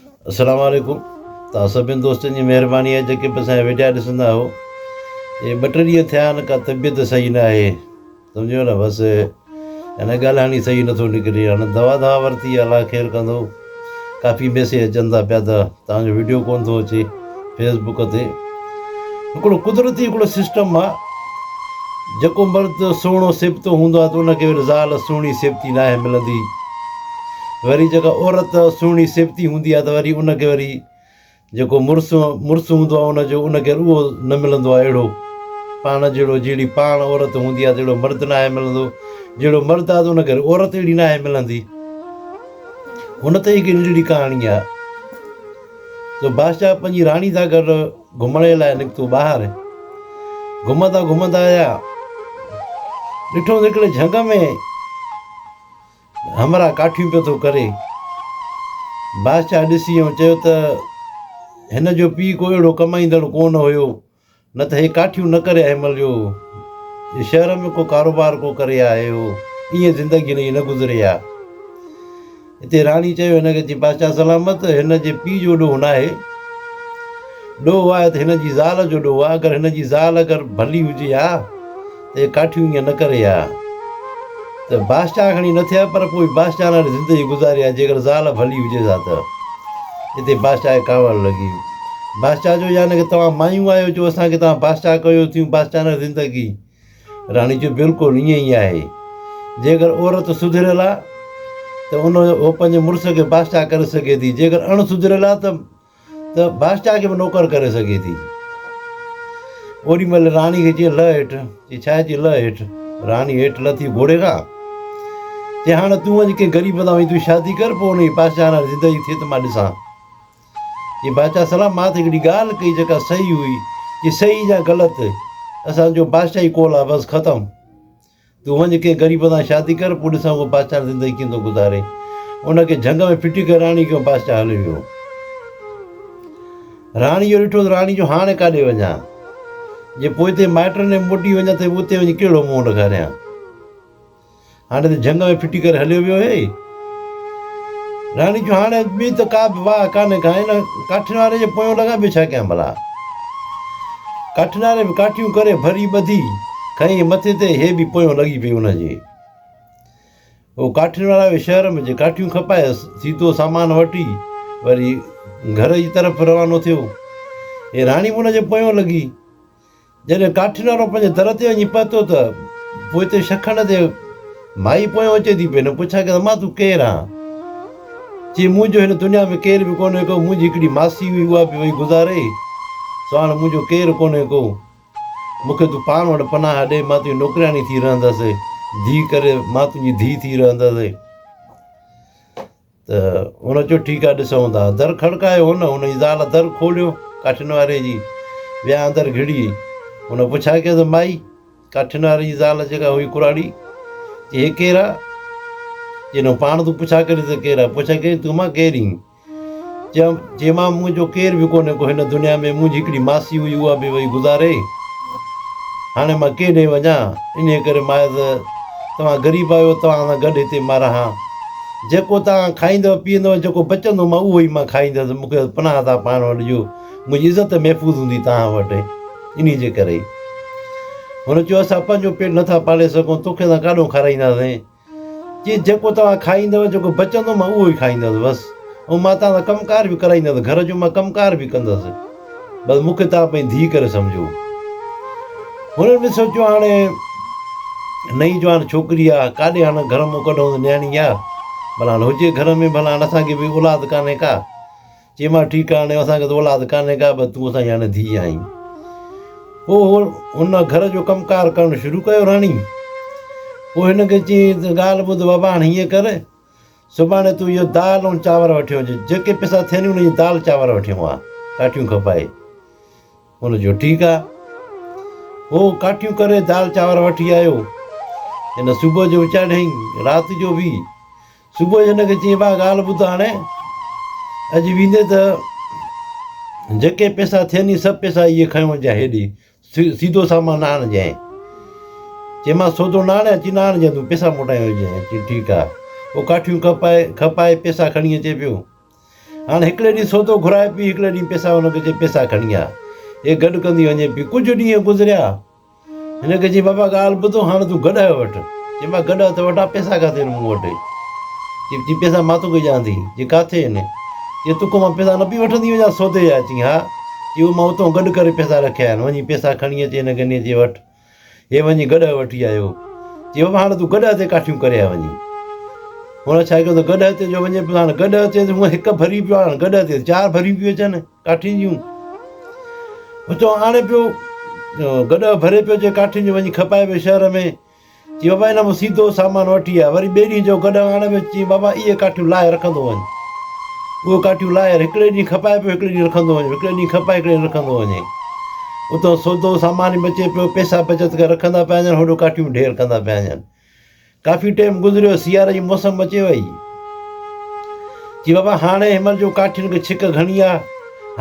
السلام عليڪم توهان سڀني دوستن جي مهرباني آهي جيڪي به اسانجا وڊيا ڏسندا آهيو هي ٻه ٽي ڏينهن ٿيا آهن ڪا طبيعت صحيح نه آهي سمجهيو نه بس هن ڳالهائڻ ئي صحيح نٿو نڪري هاڻي دوا دوا ورتي الاهه خير ڪندو ڪافي ميسيج اچن ٿا پيا ته توهانجو وڊيو ڪونه ٿو اچي فيس بڪ تي هڪڙو قدرتي هڪڙو سسٽم آ جيڪو مرد سهڻو سيبتو هوندو آ ته ان کي وري زال سهڻي سيبتي ناهي ملندي وري جيڪا عورت سهڻي سيبتي هوندي آ ته وري ان کي وري جيڪو مڙس مڙس هوندو آ ان جو ان کي اهو نه ملندو آ اهڙو پاڻ جهڙو جهڙي پاڻ عورت هوندي آ ته اهڙو مرد ناهي ملندو جهڙو مرد آ ته ان کي عورت اهڙي ناهي ملندي هن طريقي جي ڪهاڻي آ جو بادشاهه پنهنجي راڻي سان گڏ گهمڻ جي لاء نڪتو ٻاهر گهمندا گهمندا آيا ڏٺو ته هڪڙي جهنگ ۾ همراهه ڪاٺيون پيو ٿو ڪري بادشاهه ڏسي ۽ چيو ته هن جو پيء ڪو اهڙو ڪمائيندڙ ڪو نه هيو نه ته هي ڪاٺيون نه ڪري آهي مليو، جي شهر ۾ ڪو ڪاروبار ڪو ڪري آهي هو، ايئن زندگي هن جي نه گذري ها. اتي راڻي چيو هن کي چي بادشاهه سلامت هن جي پيء جو ڏوهه ناهي، ڏوهه آهي ته هن جي زال جو ڏوهه آهي، اگر هن جي زال اگر ڀلي هجي ها، اي ڪاٺيو ايئن نه ڪري ها ته باسٽا کڻي نه ٿئا پر پوء باسٽا لاري زندگي گذاري ها جيڪر زال ڀلي هجيس ها ته اتي باسٽا کي ڪاوڙ لڳي باسٽا چيو يعنيٰ ڪه توهان مايون آهيو جو اسان کي توهان باسٽا ڪيو ٿيون باسٽا لاري زندگي راڻي چيو بلڪل ايئن ئي آهي جيڪر عورت سڌريل آهي ته ان جو هو پنهنجي مڙس کي باسٽا ڪري سگهي ٿي جيڪر اڻ سڌريل آهي ته ته بادشاهه کي به نوڪر ڪري سگهي ٿي. اوڏي مهل راڻي کي چيائين لهه هيٺ. چي ڇا چي لهه هيٺ. راڻي هيٺ لٿي گهوڙي کان. چي هاڻ تون وڃ ڪنهن غريب سان وڃي تون شادي ڪر پوء ان جي بادشاهڻ زندگي ٿئي ته مان ڏسان. چي بادشاهه سلام مان ته هڪڙي ڳالهه ڪئي جيڪا صحيح هئي. چي صحيح يا غلط اسان جو بادشاهي قول آهي بس ختم. تون وڃ ڪنهن غريب سان شادي ڪر، پوء ڏسان هو بادشاهڻ زندگي ڪيئن ٿو گذاري. ان کي جهنگ ۾ ڦٽي ڪري راڻي ڪيو ۽ بادشاهه هليو ويو. راڻي اهو ڏٺو ته راڻي جو هاڻي ڪاڏي وڃان؟ جي پوئتي مائٽن ڏي موٽي وڃان ته اتي وڃي ڪهڙو منهن ڏيکاريان. هاڻي ته جهنگ ۾ ڦٽي ڪري هليو ويو هي. راڻي چيو، هاڻي ٻي ته ڪا به واهه ڪانهي ڪا، ان ڪاٺين واري جي پويان لڳا به ڇا ڪيان ڀلا؟ ڪاٺين واري به ڪاٺيون ڪري ڀري ٻڌي کنئين مٿي تي هي به پويان لڳي پئي ان جي. هو ڪاٺين وارا به شهر ۾ جي ڪاٺيون کپايس، سيڌو سامان وٺي وري گهر جي طرف روانو ٿيو. هي راڻي به ان جي پويان لڳي. جڏهن ڪاٺي نارو پنهنجي در تي وڃي پهتو ته پوئتي شخڻ تي مائي پويان اچي ٿي پئي نه پڇا ڪيس امان تون ڪير آن؟ چي منهنجو هن دنيا ۾ ڪير به ڪونهي ڪو منهنجي هڪڙي ماسي هئي اها به وئي گذاري سو هاڻ منهنجو ڪير ڪونهي ڪو مون کي تون پاڻ وٽ پناهه ڏي مان تنهنجي نوڪرياڻي ٿي رهندس ڌي ڪري مان تنهنجي ڌي ٿي رهندس. ته هن چيو ٺيڪ آهي ڏسون ٿا. در کڙڪايو هن، هن جي زال در کوليو ڪاٺين واري جي ويا اندر گهڙي. هن پڇا ڪيس مائي، ڪاٺين واري جي زال جيڪا هئي ڪراڙي، چي هي ڪير آ؟ چي نه پاڻ تون پڇا ڪرين ته ڪير آ؟ پڇا ڪيائين تون مان ڪير اين؟ چيو چي مان منهنجو ڪير به ڪونهي ڪو هن دنيا ۾ منهنجي هڪڙي ماسي هئي اها به وئي گذاري هاڻي مان ڪيڏي وڃان انهي ڪري مائي ته توهان غريب آهيو توهان سان گڏ هتي مان رهان. جيڪو توهان کائيندؤ پيئندؤ، جيڪو بچندو مان اهو ئي مان کائيندس، مون کي پناهه تان پاڻ وٽ ڏيو، منهنجي عزت محفوظ هوندي توهان وٽ، انهي جي ڪري ئي هن چيو اسان پنهنجو پيٽ نٿا پالي سگهون، توکي اسان ڪاڏهون کارائينداسين؟ چيس جيڪو توهان کائيندؤ، جيڪو بچندو مان اهو ئي کائيندس بس، ۽ مان توهان سان ڪم ڪار به ڪرائيندس، گهر جو مان ڪم ڪار به ڪندس. بس مون کي توهان پنهنجي ڌيء ڪري سمجهو. هنن به سوچيو هاڻي نئين جوان ڇوڪري آ ڪاڏي هاڻ گهر مون ڪڍون ته نياڻي آ ڀلا هاڻ هجي گهر ۾ ڀلا هاڻ اسان کي به اولاد ڪانهي ڪا. چيمانس ٺيڪ آ هاڻي اسان کي ته اولاد ڪانهي ڪا بس تون اسان جي هاڻي ڌيء آهين. پوء هن گهر جو ڪم ڪار ڪرڻ شروع ڪيو راڻي. پوء هن کي چيائين ته ڳالهه ٻڌ بابا هاڻ هيئن ڪر سڀاڻي تون اهو دال ۽ چانور وٺي اچ. جيڪي پئسا ٿين انهن جي دال چانور وٺي اوهان ڪاٺيون کپائي. هن چيو ٺيڪ آ. هو ڪاٺيون ڪري دال چانور وٺي آيو. هن صبح جو وچاڙيائين رات جو به. صبح جو هن کي چيائين ڀاء ڳالهه ٻڌ هاڻي اڄ ويندين ته جيڪي پئسا ٿين سڀ پئسا اهي کڻي وڃجانء هيڏي. سيڌو سامان نه آڻجانء. چيمانس سودو نه آڻي اچي نه آڻجانء تون پيسا موٽائي وجهانء. چيو ٺيڪ آ. پوء ڪاٺيون کپائي کپائي پيسا کڻي اچي پيو. هاڻ هڪڙي ڏينهن سودو گهرائي پي هڪڙي ڏينهن پيسا هن کي چئي پيسا کڻي آ. هي گڏ ڪندي وڃي پي. ڪجهه ڏينهن گذريا. هن کي چئي بابا ڳالهه ٻڌ هاڻ تون گڏهه وٺ. چيمانس گڏهه ته وٺان پيسا ڪاٿي آهن مون وٽ. چيو چي پيسا مان توکي ڏيان ٿي. چي ڪاٿي آهن؟ چي توکان مان پيسا نه پي وٺندي وڃان سودي جا. چي ها. اهو مان اتان گڏ ڪري پيسا رکيا آهن، وڃي پيسا کڻي اچ هن گني جي وٽ. هي وڃي گڏهه وٺي آيو. چي بابا هاڻ تون گڏهه تي ڪاٺيون ڪري آ وڃي. هن ڇا ڪيو ته گڏهه تي جو وڃي پيو هاڻ گڏهه تي هونء هڪ ڀري پيو هاڻ گڏهه تي چار ڀريون پيون اچن ڪاٺين جون. اتان آڻي پيو گڏهه ڀري پيو اچي ڪاٺين جون وڃي کپائي پيو شهر ۾. چيو بابا هن مان سيڌو سامان وٺي آء وري ٻئي ڏينهن جو گڏهه آڻڻ ويس چيائين بابا اهي ڪاٺيون لاهي رکندو وڃ اهي ڪاٺيون لاهي هڪڙي ڏينهن کپائي پيو هڪڙي ڏينهن رکندو وڃ هڪڙي ڏينهن کپائي هڪڙي ڏينهن رکندو وڃي اتان سودو سامان بچي پيو پئسا بچت ڪري رکندا پيا وڃن هوڏو ڪاٺيون ڍير ڪندا پيا وڃن ڪافي ٽائيم گذريو سياري جي موسم اچي وئي چي بابا هاڻي هن مهل جو ڪاٺين کي ڇڪ گهڻي آ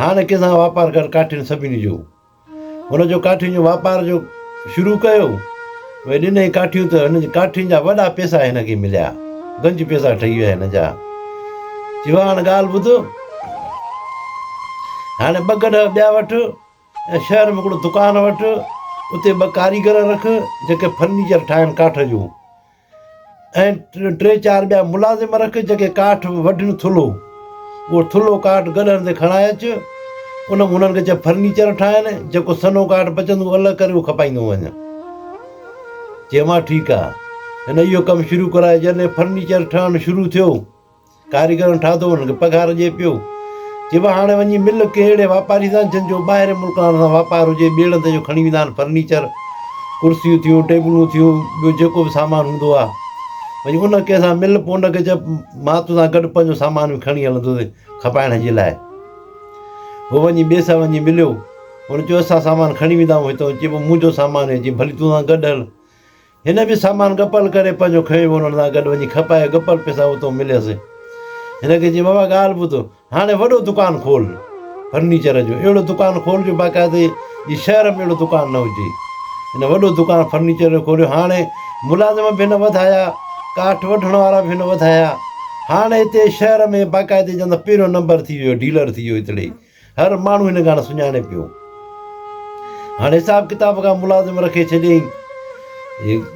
هاڻي ڪنهن سان واپار ڪر ڪاٺين سڀني جو هن جو ڪاٺين جو واپار جو شروع ڪيو اهي ڏنئي ڪاٺيون ته هن جي ڪاٺين جا وڏا پيسا هن کي مليا گنج پيسا ٺهي ويا هن جا چي واهه هاڻ ڳالهه ٻڌ هاڻي ٻه گڏهه ٻيا وٺ ۽ شهر ۾ هڪڙو دڪان وٺ اتي ٻه ڪاريگر رک جيڪي فرنيچر ٺاهن ڪاٺ جون ۽ ٽي چار ٻيا ملازم رک جيڪي ڪاٺ وڍن ٿلهو اهو ٿلهو ڪاٺ گڏهن تي کڻائي اچ ان مان انهن کي چئه فرنيچر ٺاهين جيڪو سنهو ڪاٺ بچندو اهو الڳ ڪري اهو کپائيندو وڃ چيومانس ٺيڪ آهي هن اهو ڪم شروع ڪرايو جڏهن فرنيچر ٺهڻ شروع ٿيو ڪاريگرن ٺاهتو انهن کي پگهار ڏئي پيو. چئبو آهي هاڻي وڃي مل ڪنهن اهڙي واپاري سان جن جو ٻاهرين ملڪ وارن سان واپار هجي، ٻيڙن تي جو کڻي ويندا آهن فرنيچر، ڪرسيون ٿيون، ٽيبلون ٿيون، ٻيو جيڪو به سامان هوندو آهي، وڃي ان ڪنهن سان مل پوء ان کي چئه مان تو سان گڏ پنهنجو سامان به کڻي هلندوسين کپائڻ جي لاء. هو وڃي ٻئي سان وڃي مليو، ان چيو اسان سامان کڻي ويندا آهيون هتئون، چئبو منهنجو سامان هي، چئي ڀلي تو سان گڏ هل. هن به سامان گپل ڪري پنهنجو کنيو انهن سان گڏ وڃي کپائي گپل پئسا اتئون مليس. هن کي چيائين بابا ڳالهه ٻڌ هاڻي وڏو دڪان کول فرنيچر جو اهڙو دڪان کول جو باقاعدي جي شهر ۾ اهڙو دڪان نه هجي. هن وڏو دڪان فرنيچر جو کوليو هاڻي ملازم به هن وڌايا ڪاٺ وڍڻ وارا به هن وڌايا هاڻي هتي شهر ۾ باقاعدي جي اندر پهريون نمبر ٿي ويو ڊيلر ٿي ويو هتڙي هر ماڻهو هن کان سڃاڻي پيو. هاڻ حساب ڪتاب کان ملازم رکي ڇڏيائين.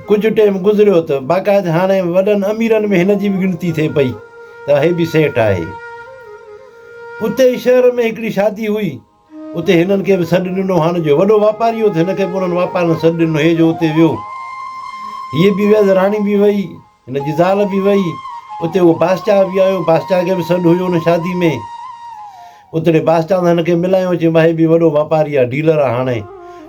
ڪجهه ٽيم گذريو ته باقاعد هاڻي وڏن اميرن ۾ هن جي به ڳڻتي ٿئي پئي ته هي به سيٺ آهي. اتي ئي شهر ۾ هڪڙي شادي هئي. اتي هنن کي به سڏ ڏنو. هاڻ جو وڏو واپاري هو ته هن کي به انهن واپارين سڏ ڏنو. هي جو اتي ويو. هيء به ويس راڻي به ويئي. هن جي زال به وئي. اتي اهو بادشاهه به آيو. بادشاهه کي به سڏ هيو ان شادي ۾. اتڙي بادشاهه سان هن کي ملايو. چيم هي به وڏو واپاري آهي، ڊيلر آهي هاڻي.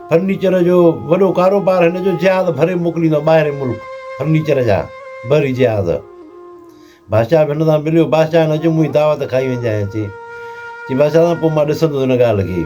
فرنيچر جو وڏو ڪاروبار هن جو. جهاز ڀري موڪليندو ٻاهرين ملڪ فرنيچر جا بحري جهاز. بادشاهه به هن سان مليو. بادشاهه چيم اچ منهنجي دعوت کائي وڃجانء اچي. چي بادشاهه سان پوء مان ڏسندس ان ڳالهه کي.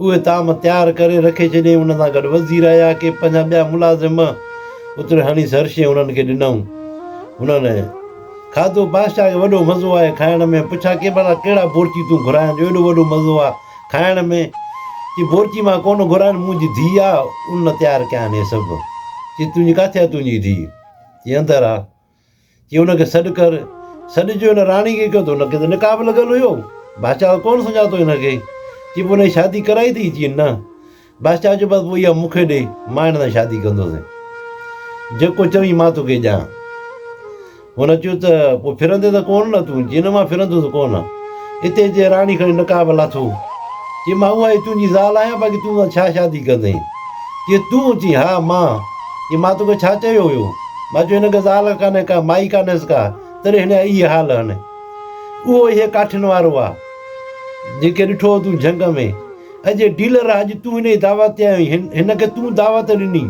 اهي طعام تيار ڪري رکي ڇڏيائين. ان سان گڏ وزير آيا ڪي پنهنجا ٻيا ملازم به اتر هڻي سر شيء هنن کي ڏنائون. هنن کاڌو بادشاهه کي وڏو مزو آيو کائڻ ۾. پڇا ڪي ڀلا ڪهڙا بورچي تون گهراين جو ايڏو وڏو مزو آ کائڻ ۾؟ چي بورچي مان ڪونه گهراين منهنجي ڌيء آ ان تيار ڪيا آهن اهي سڀ. چي تنهنجي ڪاٿي آ تنهنجي ڌيء؟ چي اندر آ. چيو ان کي سڏ ڪر. سڏ چيو ان راڻي کي ڪيو ته ان کي ته نڪاح به لڳل هيو. بادشاهه ڪونه سڃاتو هن کي. چي پوء هن جي شادي ڪرائي ٿي؟ چي نه. بادشاهه چيو بس پوء اها مون کي ڏي مان هن سان شادي ڪندوسين. جيڪو چوين مان توکي ڏيان. هن چيو ته پوء ڦرندين ته ڪونه نه تون؟ چي نه مان ڦرندوس ڪونه. اتي اچي راڻي کڻي نقاب به لاٿو. چي مان اها ئي تنهنجي زال آهيان باقي تون سان ڇا شادي ڪندين. چي تون؟ چي ها مان. جي مان توکي ڇا چيو هيو؟ مان چيو هن کي زال ڪانهي ڪا، مائي ڪانهيس ڪا، تڏهن هن جا اهي حال هن. اهو اهي ڪاٺين وارو آ، جنهن کي ڏٺو هو تون جهنگ ۾. اڄ هي ڊيلر آ، اڄ تون هن جي دعوت تي آيو آهين، هن کي تون دعوت ڏني.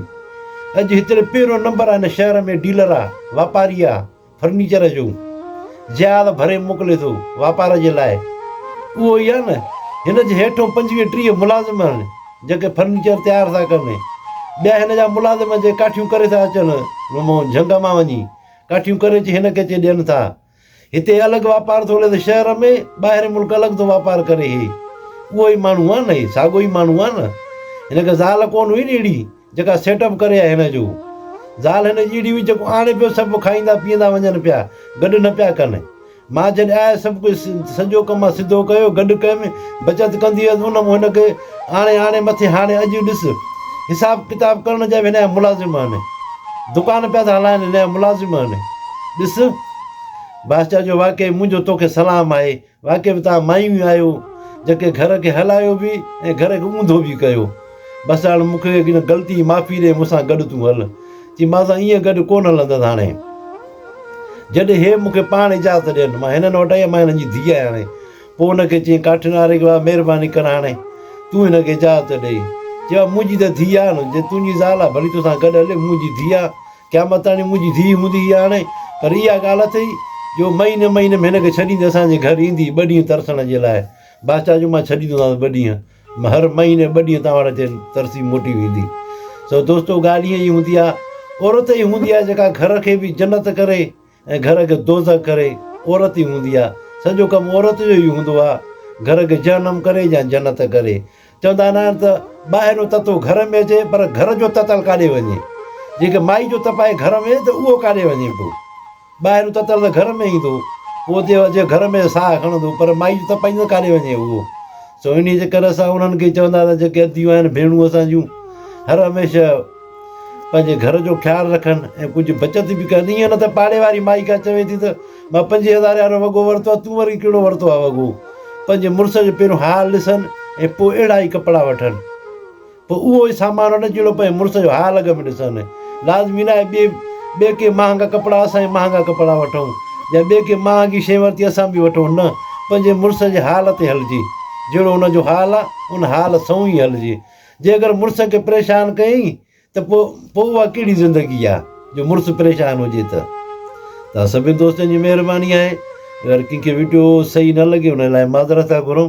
اڄ هتڙي پهريون نمبر آ هن شهر ۾، ڊيلر آ، واپاري آ. فرنيچر جو جهاز ڀري موڪلي ٿو واپار جي لاء اهو ئي آهي نه هن جي هيٺون پنجويهه ٽيهه ملازم آهن جيڪي فرنيچر تيار ٿا ڪن ٻيا هن جا ملازم جي ڪاٺيون ڪري ٿا اچن مون جهنگ مان وڃي ڪاٺيون ڪري اچي هن کي اچي ڏين ٿا هتي الڳ واپار ٿو هلي ته شهر ۾ ٻاهرين ملڪ الڳ ٿو واپار ڪري هي اهو ئي ماڻهو آهي نه هي ساڳو ئي ماڻهو آهي نه هن کي زال ڪونه هئي ني اهڙي جيڪا سيٽ اپ ڪري آهي هن جو زال هن جي ايڙي هئي جيڪو آڻي پيو سڀ کائيندا پيئندا وڃن پيا گڏ نه پيا ڪن مان جڏهن آيس سڀ ڪجهه سڄو ڪم مان سڌو ڪيو گڏ ڪيم بچت ڪندي هيس ان مون هن کي آڻي آڻي مٿي هاڻي اڄ ڏس حساب ڪتاب ڪرڻ جا به هن جا ملازم آهن دڪان پيا ٿا هلائن هن جا ملازم آهن ڏس باسچا جو واقعي منهنجو توکي سلام آهي واقعي به توهان مايون ئي آهيو جيڪي گهر کي هلايو به ۽ گهر کي اونڌو به ڪيو. بس هاڻ مون کي ان غلطي جي معافي ڏئي مون سان گڏ تون هل. چي مان سان ائين گڏ ڪونه هلندس هاڻي. جڏهن هي مون کي پاڻ اجازت ڏين. مان هنن وٽ آئي مان هنن جي ڌيء آهيان هاڻي. پوء هن کي چيائين ڪاٺين واري کي واهه مهرباني ڪر هاڻي تون هن کي اجازت ڏئي. چيو منهنجي ته ڌيء آهي نه جي تنهنجي زال آهي ڀلي تو سان گڏ هلي منهنجي ڌيء آهي قيامتاڻي منهنجي ڌيء هوندي هئي هاڻي پر اها ڳالهه اٿئي جو مهيني مهيني ۾ هن کي ڇڏيندي اسان جي گهر ايندي ٻه ڏينهن ترسڻ جي لاء بادشاهه جو مان ڇڏيندو هوندس ٻه ڏينهن هر مهيني ٻه ڏينهن توهان وٽ اچي ترسي موٽي ويندي سو دوستو ڳالهه ائين ئي هوندي آهي عورت ئي هوندي آهي جيڪا گهر کي به جنت ڪري ۽ گهر کي دوزخ ڪري عورت ئي هوندي آهي. سڄو ڪم عورت جو ئي هوندو آهي. گهر کي جهنم ڪري يا جنت ڪري. چوندا نه آهن ته ٻاهريون تتو گهر ۾ اچي پر گهر جو تتل ڪاڏي وڃي. جيڪي مائي جو تپائي گهر ۾ ته اهو ڪاڏي وڃي پيو. ٻاهريون تتل ته گهر ۾ ايندو پوء اتي اچي گهر ۾ ساهه کڻندو پر مائي جو تپائي ته ڪاڏي وڃي اهو. سو انهيء جي ڪري اسان انهن کي چوندا آهن ته جيڪي اديون آهن ڀيڻون اسان جون هر هميشه پنهنجي گهر جو خيال رکن ۽ ڪجهه بچت به ڪن ايئن نه ته پاڙي واري مائي ڪا چوي ٿي ته مان پنجين هزارين وارو وڳو ورتو آهي تون وري ڪهڙو ورتو آهي وڳو پنهنجي مڙس جو پهريون حال ڏسن ۽ پوء اهڙا ئي ڪپڙا وٺن پوء اهو ئي سامان وٺن جهڙو پنهنجي مڙس جو حال اڳ ۾ ڏسن لازمي ناهي ٻئي ٻئي ڪي مهانگا ڪپڙا اسان ئي مهانگا ڪپڙا وٺون يا ٻئي ڪي مهانگي شي ورتي اسان به وٺون نه پنهنجي مڙس جي حال تي هلجي جهڙو ان جو حال آهي ان حال سئون ئي هلجي جي اگر مڙس کي پريشان ڪيئين ته پوء پوء اها ڪهڙي زندگي آهي جو مڙس پريشان هجي ته. توهان سڀني دوستن جي مهرباني آهي. اگر ڪنهن کي وڊيو صحيح نه لڳي ان لاء معذرت ٿا گهرون.